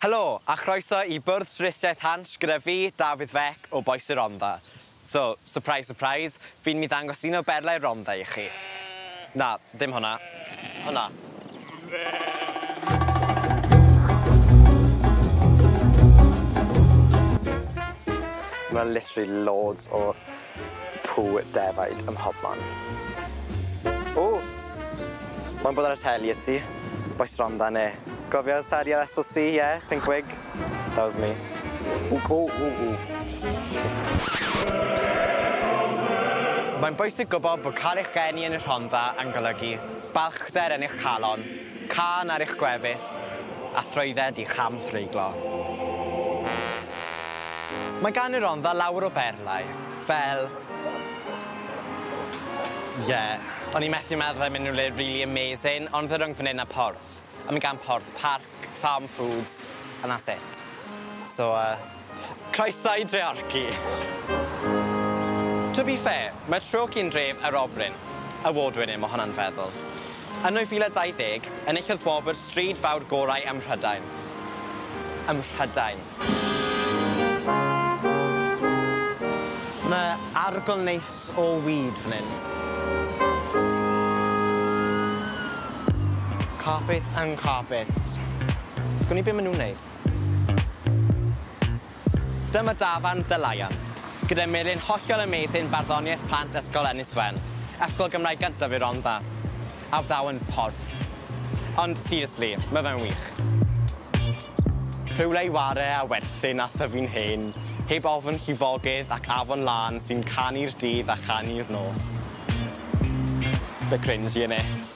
Helo, a chroeso i bwrdd twristiaeth Hansh gyda fi, Dafydd Fek, o Bois y Rondda. So, surprise surprise, fi'n mynd i ddangos un o berlau'r Rondda i chi. Na, ddim hwnna. Hwnna. Ma' literally loads o Pw defaid ym mhobman. O! Mae'n bod ar y teli y ti. Boi stronda ne? Cofio Taddy ar Ysbyl C ie? Pink wig? That was me. O o o o. Mae'n bwysig gwybod bod cael eich geni yn y Rhondda yn golygu balchder yn eich calon. Cân ar eich gwefus a thrwydded i'ch hamhreiglo. Mae gan y Rhondda lawer o berlau, fel... Ie, o'n i methu meddwl am unrhyw le rili amazing, ond fe rung fan 'yn a Porth, a mae gan Porth parc, farm foods, and that's it. So yy. Croeso i Dreorci! To be fair, mae Treorci yn dref aerobryn, award winning mae hwnna'n feddwl. Yn 2020, enillodd wobr Stryd Fawr Gorau ym Mhrydain. Ym Mhrydain! Mae arogl neis o weed fan hyn. Carpets and carpets. Sgwn i be maen nhw'n wneud. Dyma dafarn The Lion, gyda melin hollol amazing barddoniaeth plant ysgol Ynys Wen, ysgol Gymraeg gyntaf y Rondda, a wnawn porth. Ond seriously, ma fe'n wych. Rhywle i ware a werthin a thyfu'n hen, heb ofn llifogydd ac afon lân sy'n canu'r dydd a chanu'r nos. Bit cringy innit?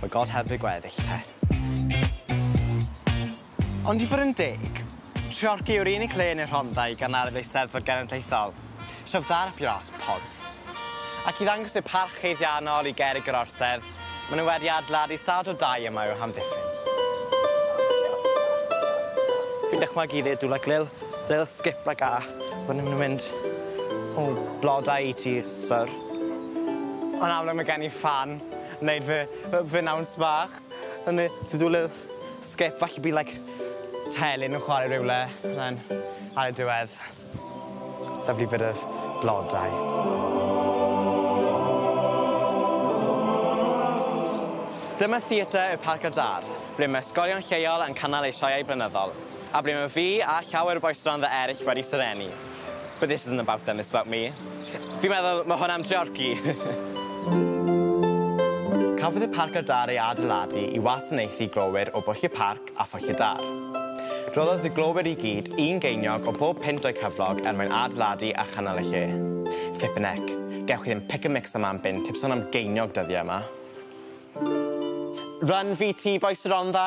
Mae God heb ei gweddill te. Ond i fod yn deg, Treorci yw'r unig le yn y Rhondda i gynnaru'r Eisteddfod Genedlaethol, sef ddarp iâs porth. Ac i ddangos eu parch haeddiannol i gerrig yr orsedd, maen nhw wedi adeiladu stad o dai yma i'w hamddiffyn. Fi'n dychmygu i ddedw like lil- little skip like that wedyn ma' nhw'n mynd o blodau i tŷ Syr. Yn amlwg mae gen i ffan yn neud fy fy fy nawns bach yn ne- to do a little skip well you'd be like telyn yn chware rywle and then ar y diwedd lovely bit of blodau. Dyma Theatr y Parc a Dân ble mae ysgolion lleol yn cynnal eu sioeau blynyddol a ble mae fi a llawer o bois stondda eryll wedi serennu. But this isn't about them, it's about me. Fi'n meddwl ma' hwn am Treorci. Cafodd y Parc Adar ei adeiladu i wasanaethu glowyr o Bwll y Parc a Phwll y Dar. Rhoddodd y glowyr i gyd un geiniog o bob pynt o'u cyflog er mwyn adeiladu a chynnal y lle. Flippin' heck, gewch chi ddim pick a mix yma am bunt heb sôn am geiniog dyddiau yma. Run VT bois y Rondda!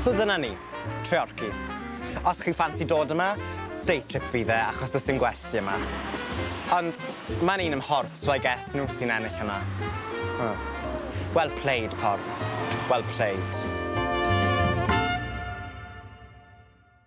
So dyna ni. Treorci. Os chi ffansi dod yma, day trip fydd e achos does dim gwesty yma. Ond mae'n un ym Mhorth so I guess nhw sy'n ennill yma. Huh. Well played, Porth. Well played.